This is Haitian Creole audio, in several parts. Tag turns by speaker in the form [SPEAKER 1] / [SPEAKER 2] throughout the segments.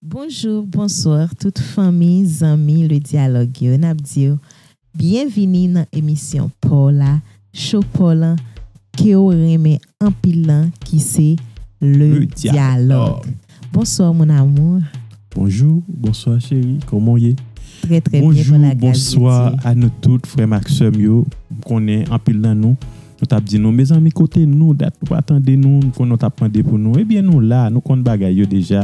[SPEAKER 1] Bonjour bonsoir tout fanmi zanmi le dialogue yo nap diw byen vini nan emisyon paw la show paw lan kew renmen anpil lan ki se le dialogue bonsoir mon amour. Bonjou
[SPEAKER 2] bonswa cheri kòman w ye Très très bien par la grâce de
[SPEAKER 1] Dieu. Bonjou bonswa a nou
[SPEAKER 2] tout frè m ak sè m yo m konnen anpil nan nou Nou tap di nou mezanmi kote nou dat nou pa tande nou nou konnen w tap mande pou nou ebyen nou la nou konn bagay yo deja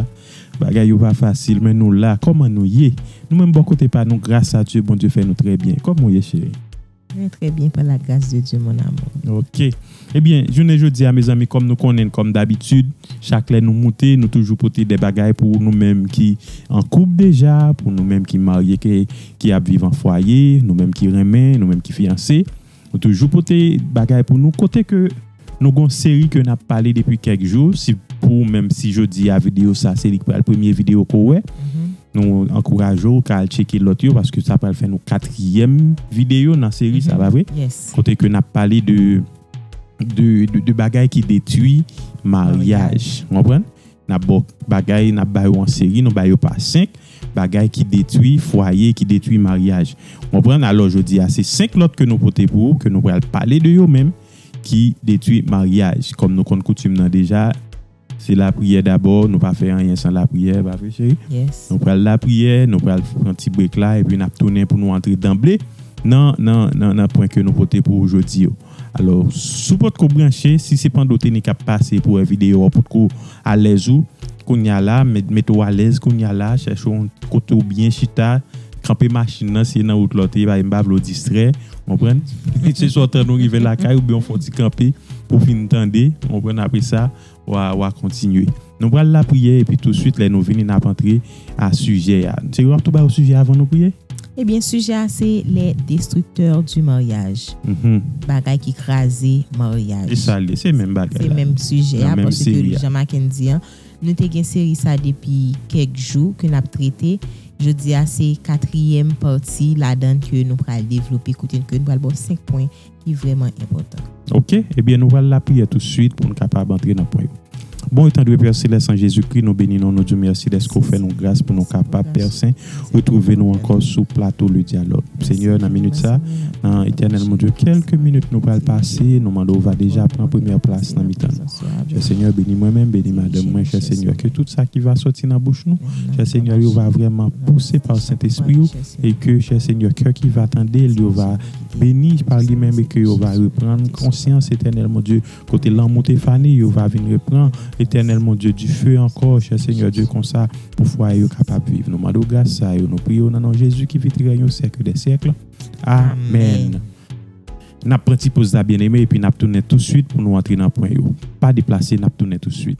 [SPEAKER 2] bagay yo pa fasil men nou la kòman nou ye nou menm bò kote pa nou gras a Dye Bondye fè nou trè byen kòman w ye cheri. Mwen trè byen
[SPEAKER 1] pa la gras de Dye mon amour. Ok ebyen
[SPEAKER 2] jounen jodia mezanmi kòm nou konnen kòm dabitid chak lè nou moute nou toujou pote de bagay pou nou menm ki an koup deja pou nou menm ki marye ki ap viv an fwaye nou menm ki renmen nou menm ki fiyanse Ou toujou pote bagay pou nou kote ke nou gon seri ke nap pale depi kèk jou si pou ou menm si jodi a video sa se li ki pral premye video ke w wè nou ankouraje w ka al tcheke lòt yo paske sa pral fè nou katriyèm video nan seri sa pa vre kote ke nap
[SPEAKER 1] pale de
[SPEAKER 2] de bagay ki detwi maryaj ou konprann. N ap ba w bagay, n ap ba yo an seri, nou ba yo pa senk, bagay ki detwi fwaye, ki detwi maryaj. Ou konprann? Alò, jodi a, se senk lòt ke nou pote pou ou, ke nou pral pale de yo menm, ki detwi maryaj. Kòm nou konn koutim nan deja, se lapriyè dabò, nou pa fè anyen san lapriyè, pa vre cheri? Nou pral lapriyè, nou pral pran ti brek la, epi n ap tounen pou nou antre danble nan, nan, nan pwen ke nou pote pou ou jodi yo. Alò si w potko branche, si se pande w te ni k ap pase pou wè videyo a ou potko alèz ou kounya la, mete w alèz kounya la, chèche yon kote w byen chita, kanpe machin nan si se nan wout la w te ye paske m pa vle w distrè, ou konprann? Se swa w tann ou rive lakay oubyen w fè yon ti kanpe pou w fin tande, ou konprann, apresa wa kontinye. Nou pral lapriyè epi tousuit lè nou vini n ap antre a sijè a. Serye w ap tou ba yo sijè a avan nou priye? Ebyen sijè a
[SPEAKER 1] se les destructeurs du mariage, bagay ki kraze maryaj. E sa l ye? Se menm
[SPEAKER 2] bagay la. Se menm sijè a
[SPEAKER 1] paske jan Maken di an nou te gen seri sa depi kèk jou ke n ap trete. Jodi a se katriyèm pati ladan l ke nou pral devlope kote ke nou pral ba w 5 pwen ki vrèman enpòtan. Oke, ebyen nou pral lapriyè
[SPEAKER 2] tousuit pou n kapab antre nan pwen yo. Bon etandwe Pè Selès an Jezikri, nou beni non, nou di w mèsi dèske w fè nou gras pou nou kapab, Pè Sen, retwouve nou ankò sou plato Le Dyalòg. Senyè, nan minit sa, nan Etènèl Bondye, kèlke minit nou pral pase, nou mande w va deja pran premyè plas nan mitan nou. Chè Senyè, beni mwen menm, beni madanm mwen, chè Senyè, ke tout sa ki va sòti nan bouch nou, chè Senyè, yo va vrèman pouse pa Sentespri w, e ke, chè Senyè, kè ki va tande l yo va Beni pa li menm e ke yo va reprann konsyans Etènèl Mon Dye kote lanmou te fane yo va vin repran Etènèl Mon Dye du feu ankò chè Senyè Dye konsa pou fwaye yo kapab viv nou mande w gras sa yo nou priye w nan non Jezi ki vit règne au siècle des siècles Amen. Nap pran ti poz la byeneme epi nap tounen touswit pou nou antre nan pwen yo. Pa deplase nap tounen touswit.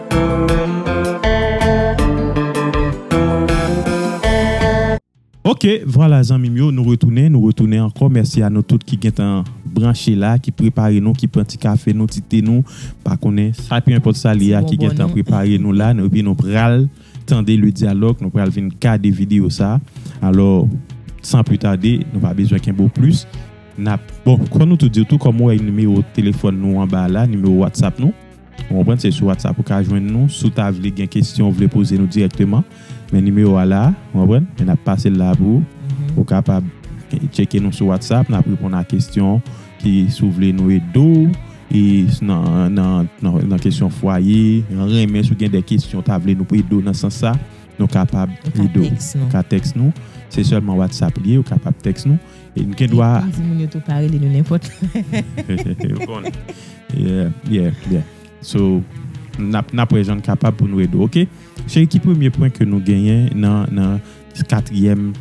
[SPEAKER 2] Ok vwala zanmim yo nou retounen nou retounen ankò mèsi a nou tout ki gentan branche la ki prepare nou ki pran ti kafe nou ti te nou pa konnen sa pi enpòt sa li a ki gentan prepare nou la epi nou pral tande le dyalòg nou pral vin gade videyo sa alò san pli tade nou pa bezwen kenbe w plis nap bon kòm nou tout diw tou kòm ou wè nimewo telefòn nou anba la nimewo whatsapp nou. Ou konprann se sou WhatsApp ou ka jwenn nou si w ta vle gen kesyon ou vle poze nou dirèkteman men nimewo a la ou konprann men nap pase l la pou ou ou kapab tcheke nou sou WhatsApp nap reponn a kesyon w ki si w vle nou ede w e nan kesyon fwaye nan renmen si w gen de kesyon w ta vle nou ede w nan sans sa nou kapab ede w ou ka tèks nou se sèlman WhatsApp li ye ou kapab tèks nou. N gen dwa. N di moun yo tou pa rele nou
[SPEAKER 1] nenpòt. Ou konn.
[SPEAKER 2] Yeah, yeah, yeah. So, n ap, n ap wè jan n kapab pou nou ede w, ok? Cheri, ki premye pwen ke nou genyen nan, nan katriyèm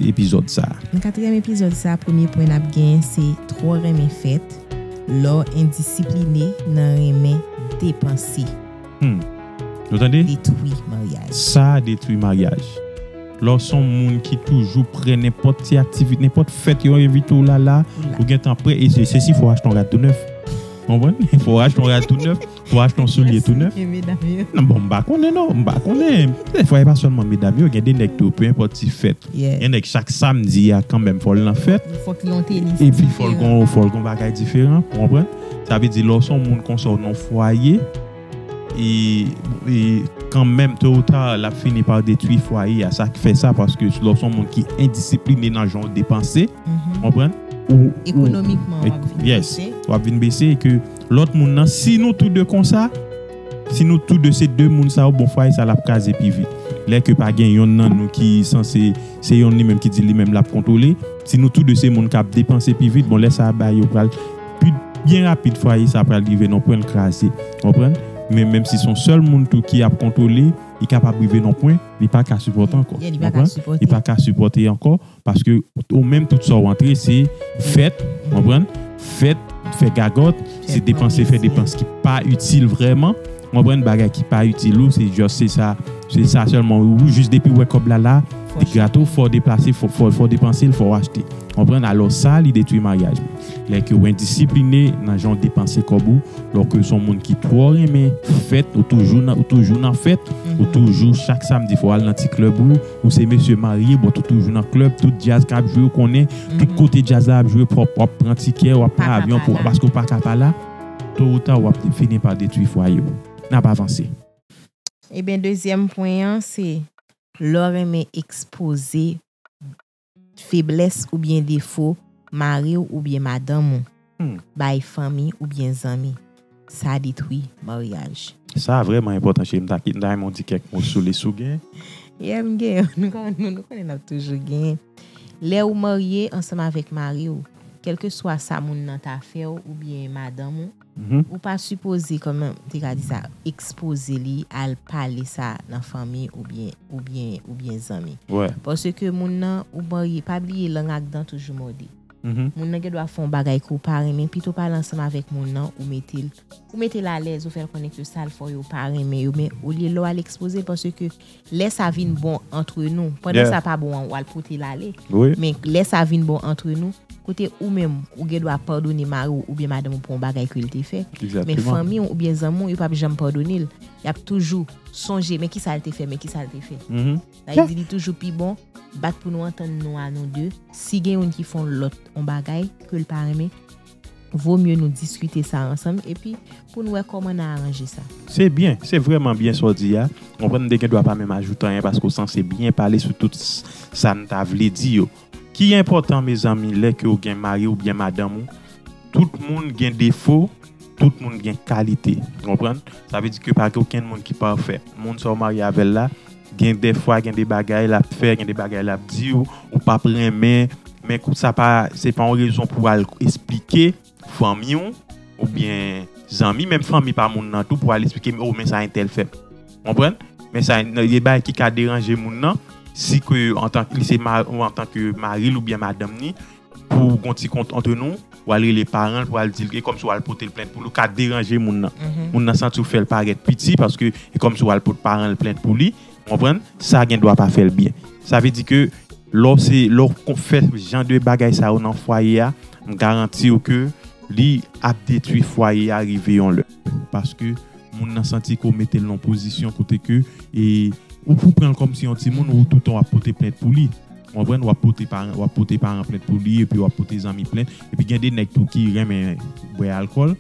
[SPEAKER 2] epizòd sa a? Nan katriyèm epizòd
[SPEAKER 1] sa a, premye pwen n ap genyen se twò renmen fèt, lè w endisipline nan renmen depanse.
[SPEAKER 2] Hum. Nou tande?
[SPEAKER 1] Detwi
[SPEAKER 2] maryaj.
[SPEAKER 1] Sa detwi
[SPEAKER 2] maryaj. Lè w se yon moun ki toujou prè nenpòt ti aktivite, nenpòt fèt yo envite w la la, ou gen tan prè e se sesi fò w achte yon rad tou nèf. Ou konprann? Fò w achte yon rad tou nèf, fò w achte yon soulye tou nèf. Non bon m pa konnen non, m pa konnen. Dèfwa e pa sèlman medam yo, gen de nèg tou, pe enpòt ti fèt. Gen nèg chak samdi a kanmenm fò l nan fèt. Fòk li yon tenis
[SPEAKER 1] diferan. Epi fò
[SPEAKER 2] l gen yon bagay diferan, ou konprann? Sa vle di lè w se yon moun konsa, w nan yon fwaye. E kanmenm to ou ta lap fini pa detwi fwaye a sak fè sa paske lè w son moun ki endisipline nan jan ou depanse ou konprann ou ekonomikman wap
[SPEAKER 1] vin bese
[SPEAKER 2] wap vin bese e ke lòt moun nan si nou tou 2 konsa si nou tou 2 se 2 moun sa yo bon fwaye sa lap kraze pi vit lè ke pa gen yonn nan nou ki sanse se yonn li menm ki di li menm lap kontwole si nou tou 2 se moun kap depanse pi vit bon lè sa ba yo pral. Pi byen rapid fwaye sa pral rive nan pwen l kraze. Ou konprann? Men menm si son sèl moun tou ki ap kontwole, li kapab rive nan pwen li pa ka sipòte ankò. Ou konprann? Li pa ka sipòte ankò paske ou menm tout sa w antre se fèt, ou konprann, fèt, fè gagòt, se depanse fè depans ki pa itil vrèman, ou konprann, bagay ki pa itil ou, se just se sa, se sa sèlman ou jis depi w wè kòb la la, li grate w fò w deplase, fò w depanse l, fò w achte. Konprann alò sa li detwi maryaj ou. Lè ke ou endisipline nan jan ou depanse kòb ou, lè ou ke son moun ki twò renmen fèt, ou toujou nan ou toujou nan fèt, ou toujou chak samdi fò al nan ti klèb ou, ou se mesye marye bòt ou toujou nan klèb, tout djaz kap jwe ou konnen, tout kote djaz la ap jwe pwòp, wap pran tikè, wap pran avyon pou al paske ou paka pa la, to ou ta wap fini pa detwi fwaye ou. Nap avanse. Ebyen
[SPEAKER 1] dezyèm pwen an se lè w renmen ekspoze Feblès oubyen defo mari w oubyen madanm ou bay fanmi oubyen zanmi, sa detwi maryaj. Sa a vrèman
[SPEAKER 2] enpòtan cheri, m ta renmen w di kèk mo sou li si w gen. Yeah m gen,
[SPEAKER 1] nou konnen n ap toujou gen. Lè ou marye ansanm avèk mari w, kèlkeswa sa moun nan ta fè w oubyen madanm ou, Ou pa sipoze kòman m te ka di sa ekspoze li al pale sa nan fanmi oubyen oubyen oubyen zanmi. Paske moun nan ou marye pa bliye lang ak dan toujou mòde. Moun nan gendwa fè yon bagay ke w pa renmen pito w pale ansanm avèk moun nan ou mete l ou mete l alèz ou fè l konnen ke sa l fè w yo ou pa renmen yo men olye lè w al ekspoze l paske lè sa vin bon antre nou pandan sa pa bon an wal pote l ale men lè sa vin bon antre nou kote ou menm ou gen dwa padone mari w oubyen madanm ou pou yon bagay ke l te fè men fanmi w oubyen zanmi w yo pap janm padone l yap toujou sonje men kisa l te fè men kisa l te fè sa vle di li toujou pi bon bat pou nou antann nou a nou 2 si gen youn ki fon lòt yon bagay ke l pa renmen. vo mye nou diskite sa ansanm epi pou n wè kòman n a aranje sa. Se byen, se
[SPEAKER 2] vrèman byen sa w di a. M konprann m te gen dwa pa menm ajoute anyen paske w sanse byen pale sou tout sa n ta vle di yo. Ki enpòtan mezanmi lè ke w gen mari oubyen madanm ou, tout moun gen defo, tout moun gen kalite. Ou konprann? Sa vle di ke pa gen okenn moun ki pafè. Moun sa w marye avè l la, Gen de fwa gen de bagay lap fè, gen de bagay lap di w, ou pap renmen, men kou sa pa, se pa yon rezon pou al esplike fanmi w, ou byen zanmi, menm fanmi pa moun nan tou pou al esplike o men sa entèl fè. Konprann? Men sa, gen de bagay ki ka deranje moun nan, si ke antan, li se ma, antan ke mari l ou byen madanm ni, Pou w gon ti kont antre nou, w al rele paran l pou w al di l, e kòmsi w al pote l plent pou l, ou ka deranje moun nan. Moun nan santi w fè l parèt piti paske e kòmsi w al pot paran l plent pou li, ou konprann, sa gen dwa pa fè l byen. Sa vle di ke lè w se, lè w fè jan de bagay sa yo nan fwaye a, m garanti w ke li ap detwi fwaye a rive yon lè. Paske. Moun nan santi ke w mete l nan yon pozisyon kote ke ou pou pran l kòm si yon timoun ou tout tan w ap pote plent pou li. Ou konprann? W ap pote paran, w ap pote paran plent pou li epi w ap pote zanmi plent. Epi gen de nèg tou ki renmen bwè alkòl.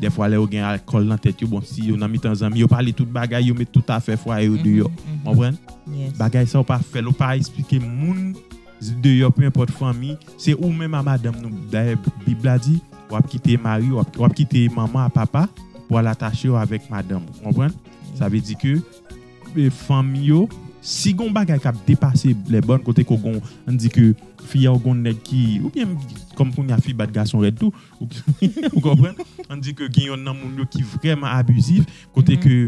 [SPEAKER 2] Dèfwa lè yo gen alkòl nan tèt yo, bon si yo nan mitan zanmi, yo pale tout bagay, yo met tout afè fwaye yo deyò. Ou konprann? Bagay sa yo pa fè l, ou pa esplike moun. deyò peu enpòt fanmi se ou menm a madanm nou dayè bib la di wap kite mari wap kite manman a papa pou al atachew avèk madanm ou konprann sa vle di ke fanm yo si gon bagay kap depase lè bòn kote ke gon ann di ke fi a ou gon nèg ki oubyen kòm kounya fi bat gason rèd tou ou konprann ann di ke gen yonn nan moun yo ki vrèman abizif kote ke.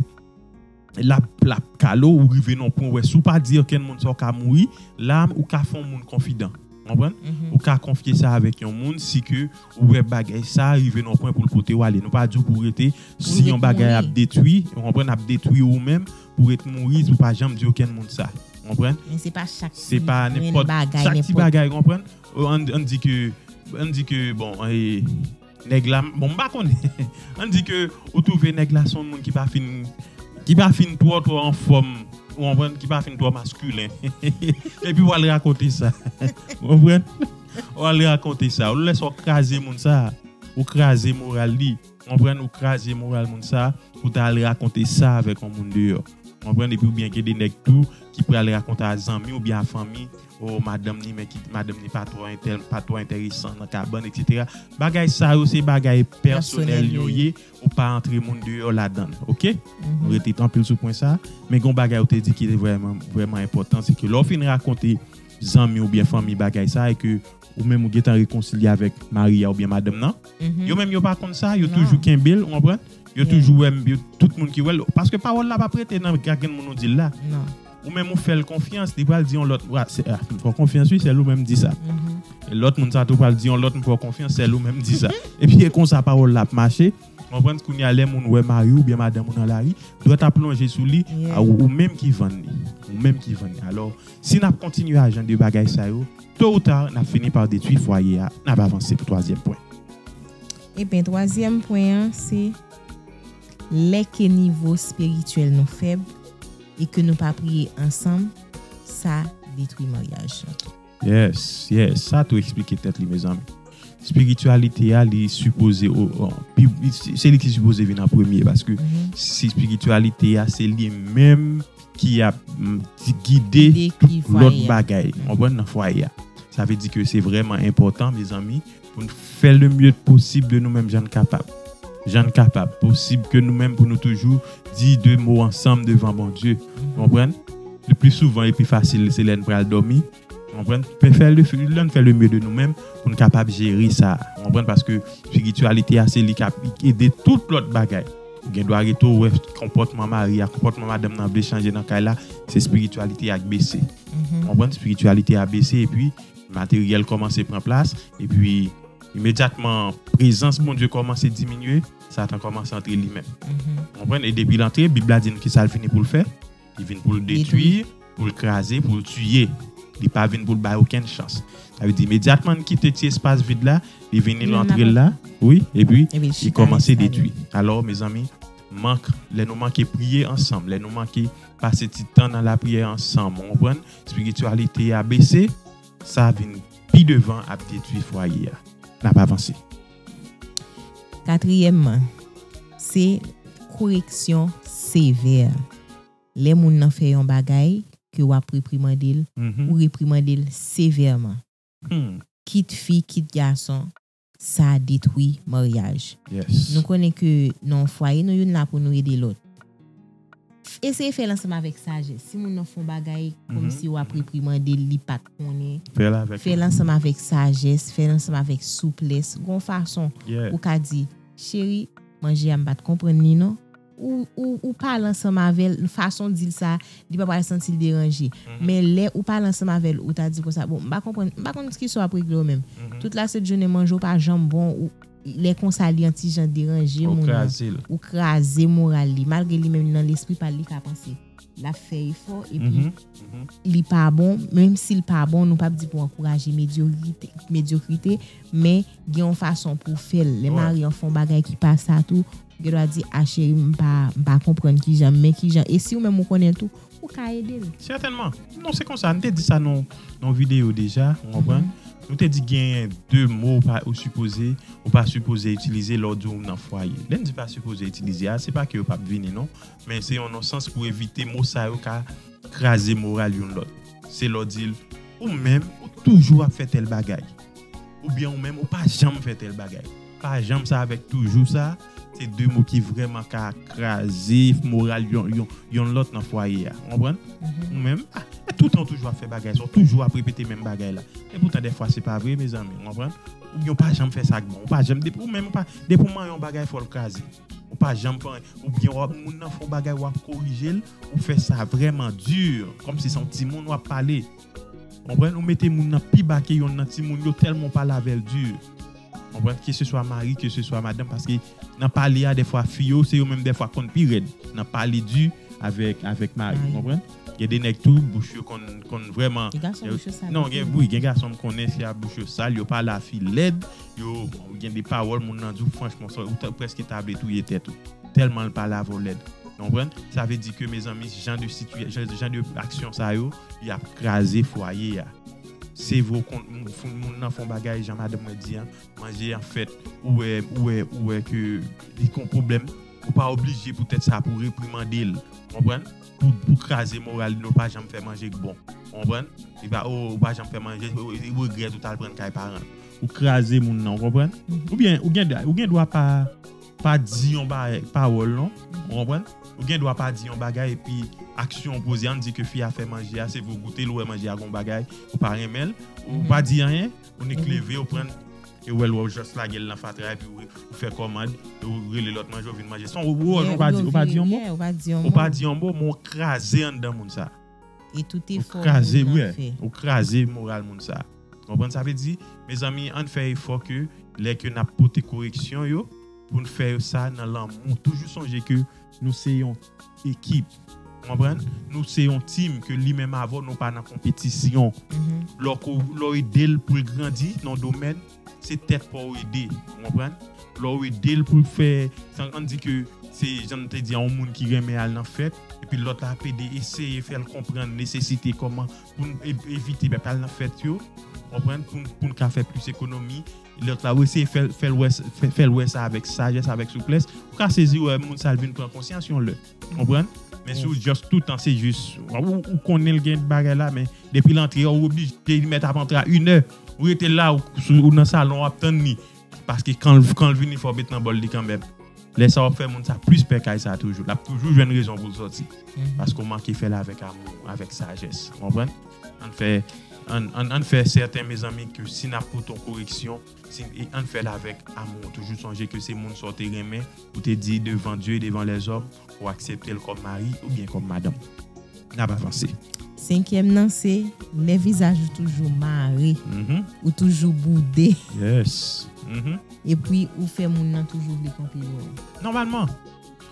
[SPEAKER 2] Lap lap kale w rive nan yon pwen wè si w pa di okenn moun sa w ka mouri. La ou ka fè yon moun konfidan. Ou konprann? Ou ka konfye sa avèk yon moun si ke ou wè bagay sa rive nan yon pwen pou l pote w ale. Nou pa di w pou w rete si yon bagay ap detwi, ou konprann, ap detwi ou menm pou w ret mouri si w pa janm di okenn moun sa. Ou konprann? Men se pa chak
[SPEAKER 1] ti grenn bagay, nenpòt. Se pa
[SPEAKER 2] nenpòt chak ti bagay, ou konprann? An di ke, an di ke bon e. Nèg la, bon m pa konnen. Ann di ke ou twouve nèg la se yon moun ki pa fin ki pa fin twò twò anfòm ou konprann, ki pa fin twò maskilen epi w al rakonte sa ou konprann ou al rakonte sa yon lè sa w kraze moun sa ou kraze moral li ou konprann ou kraze moral moun sa pou ta al rakonte sa avèk yon moun deyò ou konprann epi ou byen gen de nèg tou ki pral rakonte a zanmi oubyen a fanmi. oh madanm ni men kit madanm ni pa twò entèl pa twò entèresan nan kabann etc bagay sa yo se bagay pèsonèl yo ye ou pa antre moun deyò ladann ok nou rete tanpil sou pwen sa men gon bagay ou te di ki te vrèman vrèman enpòtan se ke lè ou fin rakonte zanmi oubyen fanmi bagay sa e ke ou menm ou gentan rekonsilye avèk mari a oubyen madanm nan yo menm yo pa konn sa yo toujou kenbel ou konprann yo toujou wèm yo tout moun ki wèl paske pawòl la pap rete nan gagèn moun ou dil la. Ou menm ou fèl konfyans li pral di yon lòt wa se a m fè w konfyans wi sèl ou menm di sa e lòt moun sa tou pral di yon lòt m fè w konfyans sèl ou menm di sa epi e konsa pawòl la ap mache konprann kounye a lè moun wè mari w oubyen madanm ou nan lari dwèt ap lonje sou li a ou ou menm ki vann li ou menm ki vann li alò si n ap kontinye a jan de bagay sa yo to ou ta n ap fini pa detwi fwaye a n ap avanse pou twazyèm pwen. Eben
[SPEAKER 1] twazyèm pwen an se lè ke nivo espirityèl nou fèb. e ke nou pa priye ansanm sa detwi maryaj lan. Yes
[SPEAKER 2] yes sa tou esplike tèt li mezanmi. Spirityalite a li sipoze se li ki sipoze vin an premye paske si spirityalite a se li menm ki ap gide tout lòt bagay ou konprann nan fwaye a. Sa vle di ke se vrèman enpòtan mezanmi Pou n fè le mieux posib de nou menm jan n kapab. Jan n kapab, posib ke nou menm pou nou toujou di de mo ansanm devan Bondye. Ou konprann? Le pli souvan e pi fasil se lè n pral dòmi. Ou konprann? Pe fè le, lè n fè le mieux de nou menm pou n kapab jere sa. Ou konprann? Paske spirityalite a se li kap ede tout lòt bagay. Ou gen dwa rete ou wè konpòtman mari a, konpòtman madanm nan vle chanje nan kay la, se spirityalite a k bese. Ou konprann? Spirityalite a bese e pi. Materyèl kòmanse pran plas, epi imedyatman prezans Bondye kòmanse diminye, Satan kòmanse antre li menm. Ou konprann? E depi l antre, Bib la di n ki sa l vini pou l fè? Li vin pou l detwi, pou l kraze, pou l tiye. Li pa vin pou l bay okenn chans. Sa vle di imedyatman n kite ti espas vid la, li vini, l antre l la, wi, epi li kòmanse detwi. Alò, mezanmi, mank, lè nou manke priye ansanm, lè nou manke pase ti tan nan lapriyè ansanm, ou konprann, Spirityalite a bese, sa vin pi devan ap detwi fwaye a. N ap avanse. Katriyèmman,
[SPEAKER 1] se koreksyon sevè. Lè moun nan fè yon bagay ke w ap reprimande l, ou reprimande l sevèman. Kit fi, kit gason, sa detwi maryaj. Nou konnen
[SPEAKER 2] ke
[SPEAKER 1] nan yon fwaye nou youn la pou nou ede lòt. Eseye fèl ansanm avèk sajès. Si moun nan fè yon bagay kòmsi wap reprimande l li pat konnen, fèl ansanm avèk sajès, fèl ansanm avèk souplès, gon fason ou ka di, cheri manje a m pat konprann li non. ou pale ansanm avèl fason dil sa li pa pral santil deranje men lè ou pale ansanm avèl ou ta di konsa bon m pa konprann m pa konn skiso ap regle yo menm tout la sent jounen manje w pa janm bon ou lè konsa li yon ti jan deranje moun nan ou kraze moral li malgre li menm nan lespri pal li ka panse lap fè efò epi li pa bon menm sil pa bon nou pap di pou ankouraje medyokrite men gen yon fason pou fèl lè marye an fon bagay ki pa sa tou Gen dwa di ah cheri m pa m pa konprann kijan men kijan e si ou menm ou konnen tou ou ka ede l. Sètènman. Non
[SPEAKER 2] se konsa, n te di sa nan yon videyo deja, ou konprann. Nou te di genyen de mo ou pa ou sipoze ou pa sipoze itilize lè w di w nan fwaye. Lè n di pa sipoze itilize a se pa ke yo p ap vini non men se yon non sans pou evite mo sa yo ka kraze moral youn lòt. Se lè w di l ou menm ou toujou ap fè tèl bagay oubyen ou menm ou pa janm fè tèl bagay. Pa janm sa avèk toujou sa, se 2 mo ki vrèman ka kraze moral yon lòt nan fwaye a. Ou konprann? Ou menm, e toutan ou toujou ap fè bagay sa, ou toujou ap repete menm bagay la. E poutan dèfwa se pa vre mezanmi, ou konprann? Oubyen ou pa janm fè sa k bon. Ou pa janm, depi ou menm ou pa, depi ou mare yon bagay fò l kraze. Ou pa janm fè anyen. Oubyen w ap, moun nan fè yon bagay w ap korije l, ou fè sa vrèman di, kòmsi se yon timoun w ap pale. Konprann ou mete moun nan pi ba ke yonn nan timoun yo tèlman ou pale avèl dur konprann ke se swa mari ke se swa madanm paske nan pale a dèfwa fi yo se yo menm dèfwa konn pi rèd nan pale dur avèk avèk mari ou konprann gen de nèg tou bouch yo konn konn vrèman Gen gason bouch yo sal non gen wi gen gason m konnen se a bouch yo sal yo pale a fi lèd yo gen de pawòl moun nan di w franchman sa ou ta prèske ta vle touye tèt ou tèlman l pale avè w lèd konprann sa vle di ke mezanmi jan de siti jan de aksyon sa yo. Yap kraze fwaye a. Sevre ou konn moun foun moun nan fon bagay jan madanm mwen di an manje an fèt ou wè ou wè ou wè ke li kon pwoblèm ou pa oblije pou tèt sa pou reprimandel ou konprann pou pou kraze moral li non pa janm fè manje k bon ou konprann li pa oo ou pa janm fè manje li regrèt ou tal prann kay paranl ou kraze moun nan ou konprann ou byen ou gen ou gen dwa pa. pa di yon pawòl non ou konprann ou gen dwa pa di yon bagay epi aksyon w poze ann di ke fi a fè manje a se pou w goute l ou wè manje a gon bagay ou pa renmen l ou pa di anyen ou nik leve ou prann e wè l wè w just lage l nan fatra epi ou fè kòmand e w rele lòt manje w vin manje son ou pa di yon mo ou pa di yon mo men w kraze anndan moun sa. E tout efò moun nan fè.
[SPEAKER 1] Ou kraze wi, ou
[SPEAKER 2] kraze moral moun sa. Konprann sa vle di? Mezanmi ann fè efò ke lè ke nap pote koreksyon yo poun fè yo sa nan lanmou. Toujou sonje ke nou se yon ekip. Ou konprann? Nou se yon team ke li menm avèw nou pa nan konpetisyon. Lè w edel poul grandi nan yon domèn, se tèt pa w ede, ou konprann? Lè w ede l pou l fè, an n di ke se jan m te di a yon moun ki renmen al nan fèt, epi lòt la ap ede eseye fè l konprann nesesite kòman pou n evite pa t al nan fèt yo, ou konprann, pou n ka fè plis ekonomi, lòt la ou eseye fè l wè sa avèk sajès, avèk souplès, ou ka sezi wè moun sa l vin pran konsyans yon lè. Konprann? Men si ou just toutan se just ou konnen l gen bagay la men depi l antre ou oblije li mèt ap antre a inè ou rete la ou nan salon w ap tann li paske kan l vini fò w met nan bòl li kanmèm lè sa w ap fè moun sa plis pè kay sa toujou l ap toujou jwenn rezon pou l sòti paske ou manke fè l avèk amou avèk sajès konprann ann fè ann fè sèten mezanmi ke si n ap pote yon koreksyon. E ann fèl avèk amou. Toujou sonje ke se moun sa w te renmen, ou te di devan Dye e devan lèzòm, ou aksepte l kòm mari oubyen kòm madanm. N ap avanse. Senkyèm nan
[SPEAKER 1] se, lè vizaj ou toujou mare, ou toujou boude,
[SPEAKER 2] epi
[SPEAKER 1] ou fè moun nan toujou vle konpli wè w. Nòmalman.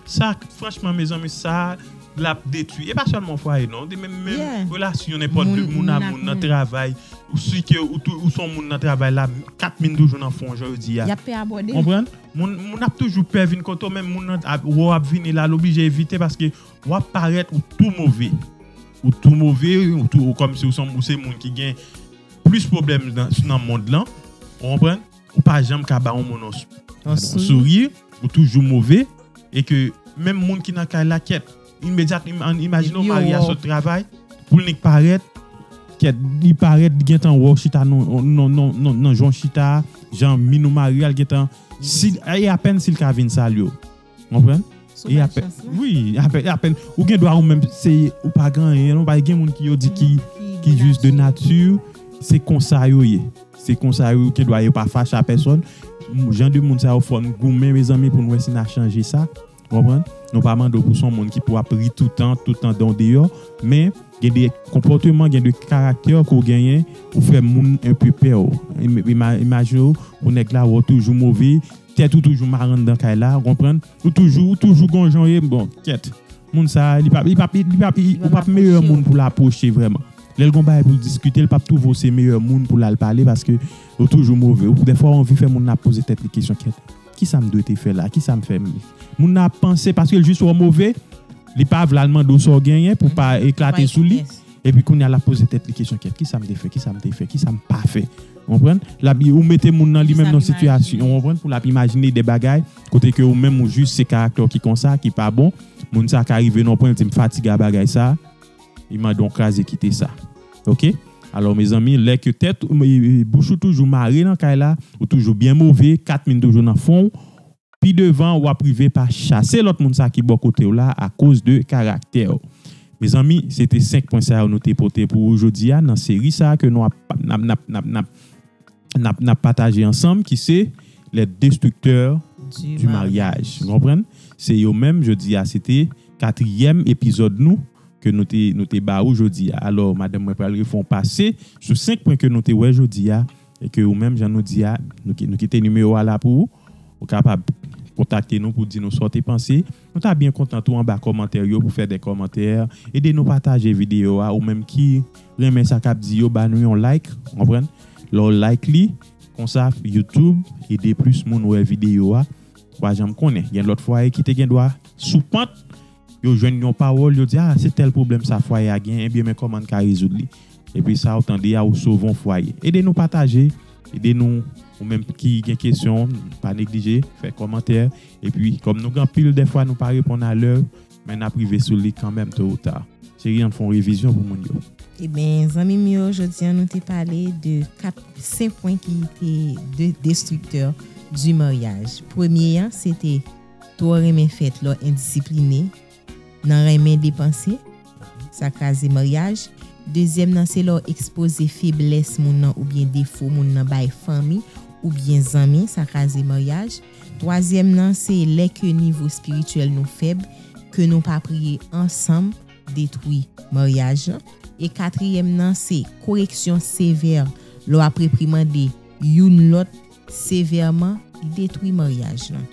[SPEAKER 2] Sa franchman mezanmi sa lap detwi e pa sèlman fwaye non de menm menm relasyon nenpòt de moun a moun nan travay ou si ke ou tou ou son moun nan travay la kat min toujou nan fon jan yo di a yap pè abòde konprann
[SPEAKER 1] moun moun
[SPEAKER 2] ap toujou pè vin kote w menm moun nan ap wè w ap vini la l oblije evite paske wap parèt ou tou move ou tou move ou tou kòmsi ou se moun ki gen plis pwoblèm nan mond lan ou konprann. ou pa janm ka ba yon moun yon souri, ou toujou move, e ke menm moun ki nan kay la kèt, imedyatman, imajine yon mari a sot travay, pou l nik parèt, kèt, li parèt li gen tan wè w chita nan jan w chita a, jan min ou mari a, l gen tan, si, e apèn si l ka vin salye w. Konprann? Sou bay chans la. Wi, apèn, apèn. Ou gen dwa ou menm se ou pa gen anyen non. Paske gen moun ki yo di ki jis de nati, se konsa yo ye. Se konsa yo gen dwa yo pa fache a pèsòn. Jan de moun sa yo fòn goumen mezanmi pou nou wè si na chanje sa. Konprann? Nou pa mande ou pou son moun ki pou ap ri toutan, toutan dan ou deyò. Men, gen de konpòteman, gen de karaktè ke ou genyen, ou fè moun enpe pè ou. Imajine ou, pou nèg la wè ou toujou move, Tèt ou toujou mal anndan kay la ou konprann ou toujou ou toujou gon jan ou ye bon kyèt moun sa li pap li pap li pap ou pap meyè moun poul apwoche vrèman lèl gon bagay poul diskite li pap twouve w se meyè moun poul al pale paske ou toujou move ou dèfwa ou anvi fè moun nan ap poze tèt li kesyon kyèt kisam dwe te fè la kisam fè moun nan ap panse paske l jis wè w move li pa vle al mande w sa w genyen pou pa eklate sou li epi kounya lap poze tèt li kesyon kyèt kisam te fè kisam te fè kisam pa fè. Ou konprann? Lap ou mete moun nan li menm nan sitiyasyon, ou konprann, pou lap imajine de bagay kote ke ou menm ou jis se karaktè w ki konsa, ki pa bon. Moun sa ka rive nan yon pwen li di m fatige a bagay sa, li mande yon kraze kite sa. Ok? Alò mezanmi, lè ke tèt, bouch ou toujou mare nan kay la, ou toujou byen move, kat min toujou nan fon w, Pi devan wap rive pa chase lòt moun sa ki bò kotew la a koz de karaktèw. Mezanmi se te 5 pwen sa yo nou te pote pou ou jodi a nan seri sa ke nou ap nap nap nap nap nap nap pataje ansanm ki se les destructeurs du mariage nou konprann se yo menm jodi a se te katriyèm epizòd nou ke nou te nou te ba ou jodi a alò madanm mwen pral refè yon pase sou 5 pwen ke nou te wè jodi a E ke ou menm jan nou di a, nou kite nimewo a la pou ou. Ou kapab kontakte nou pou di nou sa w te panse. Nou ta byen kontan tou anba kòmantè yo pou fè de kòmantè. Ede nou pataje videyo a. Ou menm ki renmen sa k ap di yo, ba nou yon like. Ou konprann? Lè w like li, konsa YouTube ede plis moun wè videyo a. Ou pa janm konnen. Gen lòt fwaye ki te gen dwa sou pant. Yo jwenn yon pawòl yo di ah se tèl pwoblèm sa fwaye a gen ebyen men kòman n ka rezoud li epi sa ou tande a ou sove yon fwaye ede nou pataje ede nou ou menm ki gen kesyon pa neglije fè kòmantè epi kòm nou gen anpil dèfwa nou pa reponn a lè men nap rive sou li kanmèm to ou ta cheri ann fè yon revizyon pou moun yo. Ebyen zanmi
[SPEAKER 1] m yo jodi an nou te pale de 4 5 pwen ki te de destriktè di maryaj premye an se te. Twò renmen fèt lò endisipline Nan renmen depanse Sa kraze maryaj Dezyèm nan se lè w ekspoze feblès moun nan oubyen defo moun nan bay fanmi oubyen zanmi sa kraze maryaj Twazyèm nan se lè ke nivo spirityèl nou fèb ke nou pa priye ansanm detwi maryaj lan E katriyèm nan se koreksyon sevè lè w ap reprimande youn lòt Sevèman, li detwi maryaj lan.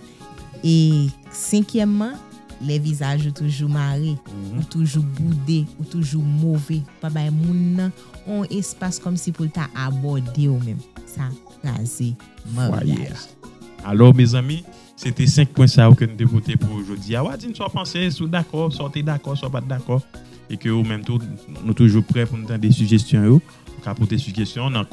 [SPEAKER 1] E senkyèmman, lè vizaj ou toujou mare, ou toujou boude, ou toujou move, ou pa bay moun nan yon espas kòmsi pou l ta abòde w menm. Sa kraze maryaj la. Alò
[SPEAKER 2] mezanmi, se te 5 pwen sa yo ke nou te pote pou ou jodi a. Wa di n sa w panse, si w dakò, sa w te dakò, sa w pa t dakò. E ke ou menm tou, nou toujou prè pou nou tande sijesyon yo. Ou ka pote sijesyon w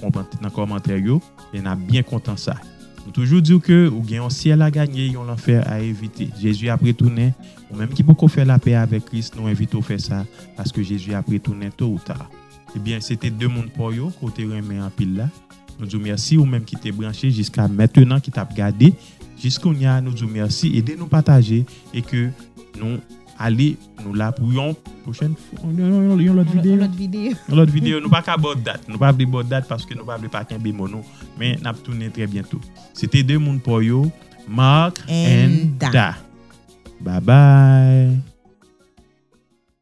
[SPEAKER 2] nan kòmantè yo e n ap byen kontan sa. Nou toujou di w ke ou gen yon syèl a ganye, yon lanfè a evite. Jezi ap retounen, ou menm ki poko fè lapè avèk Kris, nou envite w fè sa, paske Jezi ap retounen to ou ta. Ebyen, se te 2 moun paw yo ke w te renmen anpil la. Nou di w mèsi ou menm ki te branche jiska mentenan, ki t ap gade jiskounya, nou di w mèsi, ede nou pataje e ke nou. Ale nou la pou yon pwochèn fwa yon lòt videyo nou pa ka baw dat nou pa vle baw dat paske nou pa vle pa kenbe mo nou men nap tounen trè byento se te 2 moun paw yo Marc and Da babay.